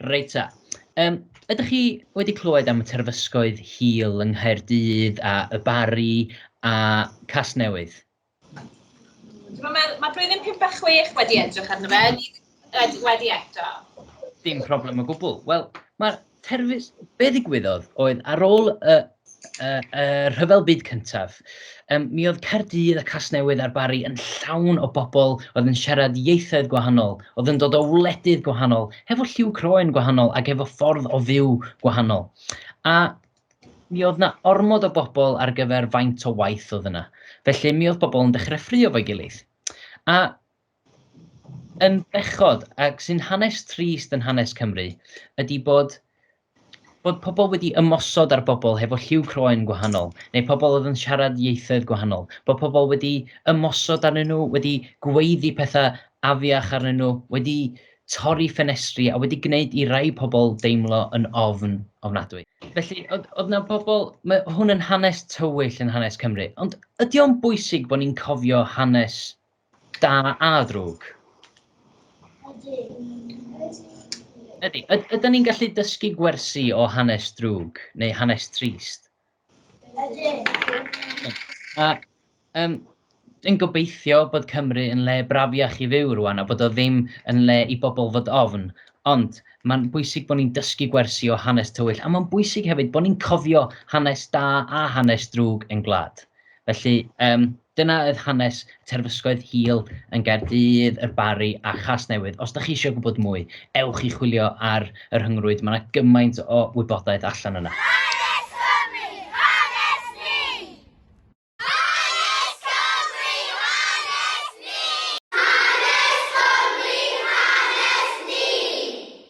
Reit ta. Yym, ydych chi wedi clywed am y terfysgoedd hil yng Nghaerdydd a Y Barri a Casnewydd? Dwi'n meddwl, mae blwyddyn 56 wedi edrych arno fe. Wedi, wedi eto. Dim problem o gwbl. Wel, mae'r terfys... Be ddigwyddodd oedd ar ôl y, y, y rhyfel byd cyntaf, um, mi oedd Caerdydd a Casnewydd a'r Bari yn llawn o bobl oedd yn siarad ieithoedd gwahanol, oedd yn dod o wledydd gwahanol, hefo lliw croen gwahanol ac hefo ffordd o fyw gwahanol. A mi oedd na ormod o bobl ar gyfer faint o waith oedd yna. Felly mi oedd pobl yn dechrau ffrio fo'i gilydd. A yn bechod ac sy'n hanes trist yn hanes Cymru ydi bod bod pobl wedi ymosod ar bobl hefo lliw croen gwahanol, neu pobl oedd yn siarad ieithoedd gwahanol, bod pobl wedi ymosod arnyn nhw, wedi gweiddi pethau afiach arnyn nhw, wedi torri ffenestri a wedi gwneud i rai pobl deimlo yn ofn ofnadwy. Felly, oedd 'na bobl... Mae hwn yn hanes tywyll yn hanes Cymru, ond ydy o'n bwysig bod ni'n cofio hanes Da a ddrwg. Ydy. Ydy. ni'n gallu dysgu gwersi o hanes drwg neu hanes trist? Ydy. A um, yn gobeithio bod Cymru yn le brafiach i fyw rwan a bod o ddim yn le i bobl fod ofn. Ond mae'n bwysig bod ni'n dysgu gwersi o hanes tywyll a mae'n bwysig hefyd bod ni'n cofio hanes da a hanes drwg yn gwlad. Felly, yym, dyna oedd hanes Terfysgoedd Hil yn Gaerdydd, y Barri a Chasnewydd. Os da chi eisiau gwybod mwy, ewch i chwilio ar y rhyngrwyd, mae yna gymaint o wybodaeth allan yna. Hanes Cymru, hanes ni! Hanes Cymru, hanes ni! Hanes Cymru, hanes ni!